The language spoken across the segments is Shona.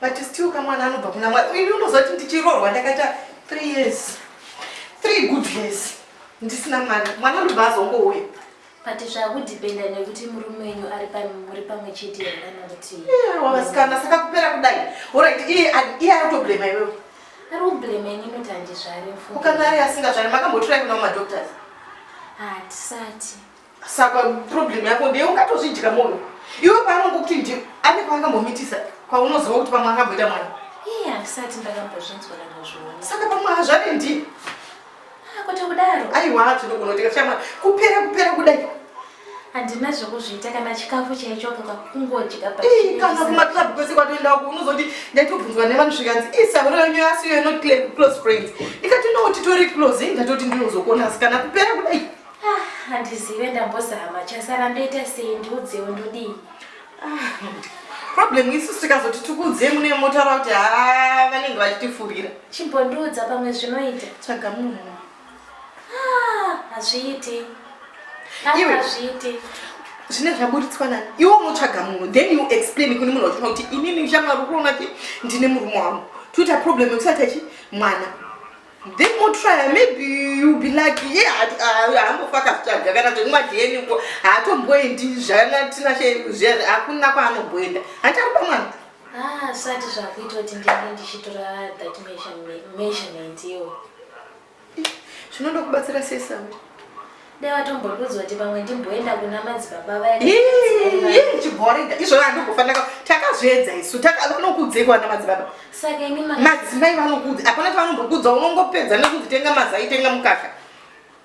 but still kamwana anobva kuna mwari ini unozoti ndichirorwa ndakaita three years three good years ndisina mwana mwana anobva azongouya but zvakudependa nekuti murume wenyu muri pamwe chete yanakuti wavasikana saka kupera kudai orit iye ari kutoblema iwewe ari kublema ini inoti handizvari ukanga ari asingazvari makambotura kuna madoctors hatisati ah, saka problem yako ndeye ungatozvidya munhu iwe paanongo kuti ndi ane kwaangambomitisa kwaunoziva kuti pamwe akamboita mwana iye handisati ndakambozvinzwa ndakazviona saka pamwe hazvane ndi ah, kwete kudaro aiwa tinogona kutika chama kupera kupera kudai handina zvekuzviita kana chikafu chaicho kaka kungodya kana kumaclub kwese kwatoenda uku unozoti ndaitobvunzwa nevanhu zvikanzi isahuro yenyu yasiyo inoclose friends ndikati ndouti tori close ndatoti ndinozokona asi kana kupera kudai Ah, handizive ndambozama chasara ndoita sei ndiudzewo ndodii problem isu tikazoti tikuudzei mune motaura kuti haa vanenge vachitifurira chimbondiudza pamwe zvinoita tsvaga munhu ah, hazviiti ah, Iwe. hazviiti zvine zvaburitswa nani iwe unotsvaga munhu then you explain kune munhu wachona kuti inini shamwari ukuona kuti ndine murume wangu toita problem yekusati achi mwana Then we'll try, maybe you'll be lucky. Yeah, haambofaka zvitsvaga kana kuti nguva dna uko haatomboendi zvanatinashe zviyazvi hakuna kwaanobhoenda hanti ari pamwana asati ah, zvakuita kuti ndinge ndichitora that measurement iyo zvinoda kubatsira sesau Dai watombodudzwa kuti pamwe ndimboenda kuna madzibaba vaya. Ii, chibhoringa. Izvo vandokufanira takazviedza isu. Taka vanokudzeko ana madzibaba. Saka imi maka. Madzimai vanokudza. Hapana chavanongokudza unongopedza nekuti tenga mazai tenga mukaka.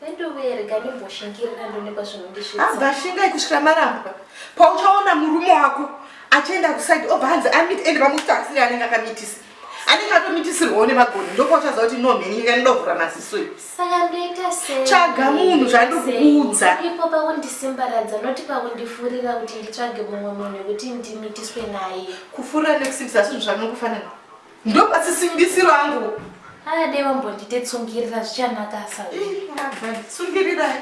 Vendovereka ndimboshingirira ndonekwa zvinondisvitsa. Abva shingai kusvika marambwa. Pauchaona murume wako achienda kuside obva hanzi amit and vamuti asiri anenge akamitisa. anenge atomitisirwawo nemagoni ndokwauchaziva kuti no mheni nyika inoda kuvhura maziso iyo saka ndoita sei tsvaga munhu zvandokuudza ipo pakundisimbaradza noti pakundifurira kuti nditsvage mumwe munhu wekuti ndimitiswe naye kufurira nekusimbisa asi zvinhu zvanokufanira ndopasisimbisiro angu adei vambondite tsungirira zvichanakasa tsungirirai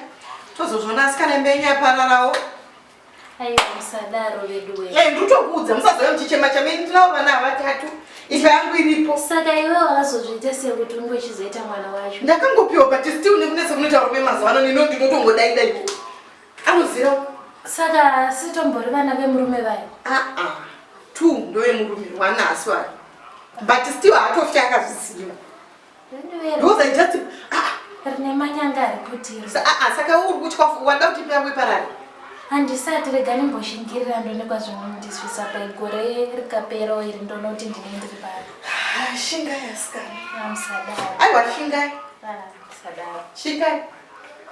tozozvona asi kana imbenyapararawo Aiwa musadaro veduwe. Eh nditokuudza musazove muchichema chama ini ndinawo vana havatatu. Ifa yangu iripo. Saka iwe wakazozviita sei kuti unge uchizoita mwana wacho? Ndakangopiwa but still nekunetsa kunoita rume mazuva ano nino ndinotongodai dai. Anozira. Saka sitombori vana vemurume vayo. Ah ah. Two ndoye murume wana asi wari. But still haatofya akazviziva. rine manyanga ari kutiro saka uri kutya wada kuti peyamwe parari handisati rega ndimbozhingirira ndonekwa zvimwe ndisvisa paigore rikapera iri ndoona kuti ndine ndiri pari shingai asikana aiwa shingai shingai